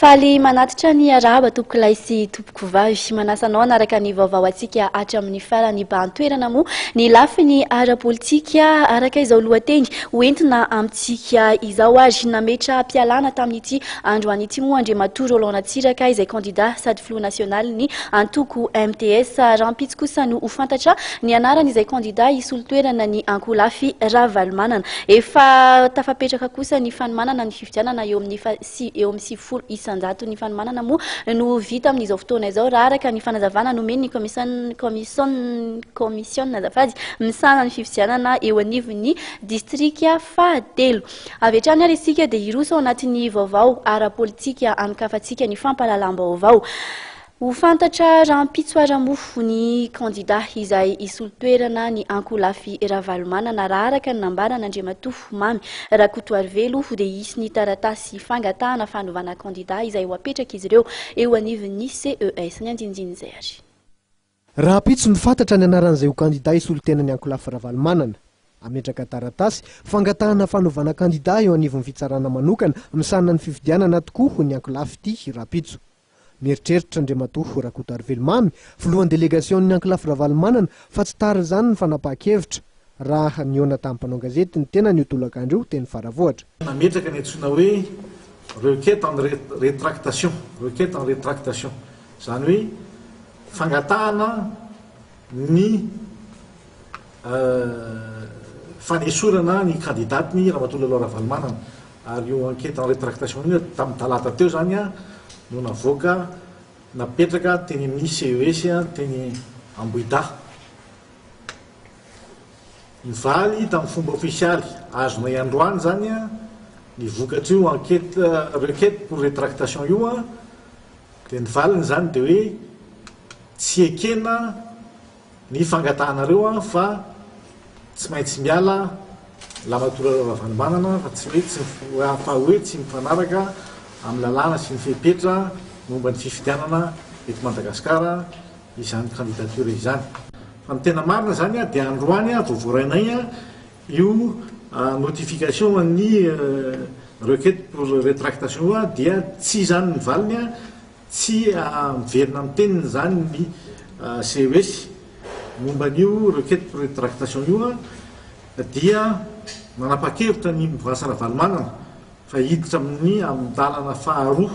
Faly manatitra ny arahaba tompokolahy sy tompokovavy. Manasa anao hanaraka ny vaovao antsika hatramin'ny farany ba an-toerana moa ny lafiny ara-politika araka izao lohateny hoentina amintsika izao ary nametra-pialana tamin'ity Andro an'ity moa Andriamatoa Roland Ratsiraka izay kandida sady filoha nasionalin'ny antoko MTS. Rahampitso kosa no ho fantatra ny anaran'izay kandida hisolo toerana ny ankolafy Ravalomanana. Efa tafapetraka kosa ny fanomanana ny fifidianana eo amin'ny eo amin'ny sivifolo isan-jato. Ny fanomanana moa no vita amin'izao fotoana izao raha araka ny fanazavana nomen'ny kaomisionina azafady misahana ny fifidianana eo anivon'ny distrika fahatelo. Avy hatrany ary isika dia hiroso ao anatin'ny vaovao ara-politika ankafantsika ny fampahalalam-baovao. Ho fantatra rahampitso ara-mofo ny kandidà izay hisolo toerana ny ankolafy Ravalomanana raha araka ny nambaran'Andriamatoa Mamy Rakotoarivelo dia hisy ny taratasy fangatahana fanovana kandidà izay ho apetrak'izy ireo eo anivon'ny ces, ny andinindininy izay ary. Rahampitso no fatratra ny anaran'izay ho kandida hisolo tenan'i Ankolafy Ravalomanana. Hametraka taratasy fangatahana fanovana kandida eo anivon'ny fitsarana manokana misahana ny fifidianana tokoa hoy ny Ankolafy ity rahampitso. Mieritreritra Andriamatoa Rakotoarivelo Mamy, filohan'ny delegasion'ny Ankolafy Ravalomanana fa tsy tara izany ny fanapahan-kevitra. Raha nihaona tamin'ny mpanao gazety ny tenany io tolakandro io teny Faravohitra, nametraka ny antsoina hoe requête en rétractation, requête en rétractation, izany hoe fangatahana ny fanesorana ny kandidàtny Ramatoa Lalao Ravalomanana. Ary io enquête en rétractation io, tamin'ny talata teo izany no navoaka, napetraka teny amin'ny CES teny Ambohidahy. Nivaly tamin'ny fomba ofisialy, azonay androany izany ny vokatr'io enquête, requête pour rétractation io, dia ny valiny izany dia hoe tsy ekena ny fangatahanareo fa tsy maintsy miala Lamatoa Ravalomanana fa tsy hoe tsy, fa hoe tsy mifanaraka amin'ny lalàna sy ny fepetra momba ny fifidianana eto Madagasikara, izany candidature izany. Fa ny tena marina izany dia androany vao voarainay io notification an'ny requête pour retractation io dia tsy izany ny valiny, tsy miverina amin'ny teniny izany ny CES momba an'io requête pour retractation io dia manapa-kevitra ny Mouvance Ravalomanana fa hiditra amin'ny amin'ny dalana faharoa,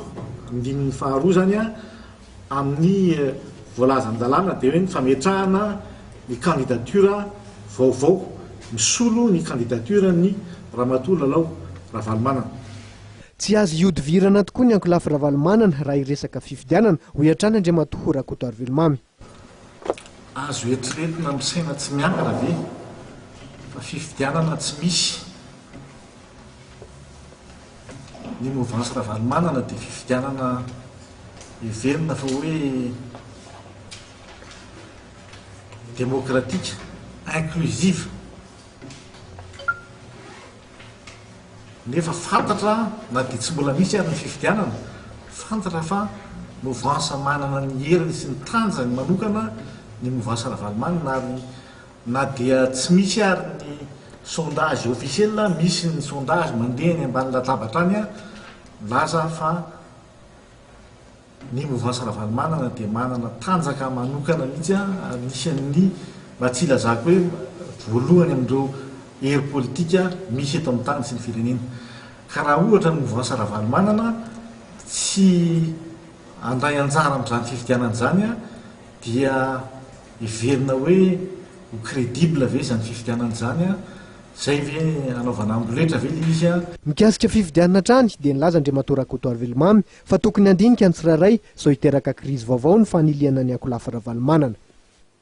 andininy faharoa izany. Amin'ny voalaza an-dalàna dia hoe ny fametrahana ny kandidatiora vaovao misolo ny kandidatioran'i Ramatoa Lalao Ravalomanana. Tsy azo ihodivirana tokoa ny ankolafy Ravalomanana raha hiresaka fifidianana, hoy hatrany Andriamatoa Rakotoarivelomamy. Azo eritreretina amin'ny saina tsy miankina ve fa fifidianana tsy misy? Ny movansy Ravalomanana dia fifidianana heverina fa hoe demokratika, inclusive, nefa fantatra na dia tsy mbola misy ary ny fifidianana, fantatra fa movansy manana ny heriny sy ny tanjany manokana ny movansy Ravalomanana ary Na dia tsy misy ary ny sondage officiel, misy ny sondage mandeha eny ambany latabatra any ary milaza fa ny mouvance Ravalomanana dia manana tanjaka manokana mihitsy ary anisan'ny mba tsy hilazako hoe voalohany amin'ireo hery politika misy eto amin'ny tany sy ny firenena. Ka raha ohatra ny mouvance Ravalomanana tsy handray anjara amin'izany fifidianana izany dia Heverina hoe ho credible ve izany fifidianana izany an? Izay ve hanaovana amboletra ve ilay izy an? Mikasika fifidianana hatrany dia nilaza Andriamatoa Rakoto Ravelomamy fa tokony handinika ny tsirairay sao hiteraka krizy vaovao ny fanilihana ny ankolafy Ravalomanana.